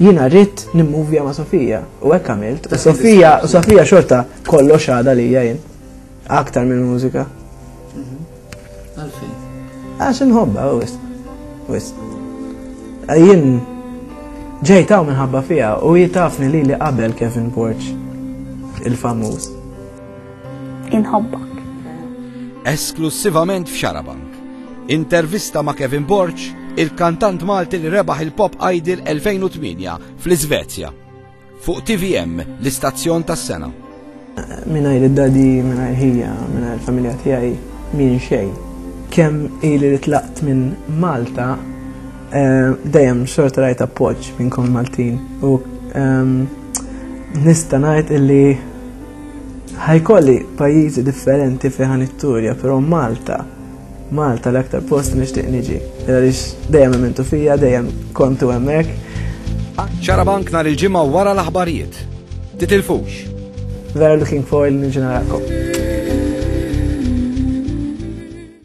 Jiena rrid nimmuvja ma' Sofija u hekk għamilt. U Sofija, u Sofija xorta kollox għada li jien. Aktar minn mużika. Mhm. Għalfejn. Għax inħobba, u wis. Wis. Jien ġejtaw minħabba fija u jitafni li li qabel Kevin Borch il-famuż. Inħobbok. Esklussivament f'Xarabank. Intervista ma' Kevin Borg, il-kantant Malti li rebaħ il-Pop Idol 2008 fl-Iżvezja. Fuq TVM, l-istazzjon tas-sena. Minajr id-dadi, minajr ħija, minajr familja tiegħi min xejn. Kemm ili li tlaqt minn Malta, eh, dejjem xorta rajt appoġġ minnkom Maltin u ehm, nista' ngħid illi Ħajkolli pajjiżi differenti fejn ħan itturja, però Malta Malta l-aktar post li nixtieq niġi. Għaliex dejjem ementu fija, dejjem kontu hemmhekk. Xarabank nhar il-ġimgħa wara l-aħbarijiet. Titilfux. Vera looking forward li niġi narakom.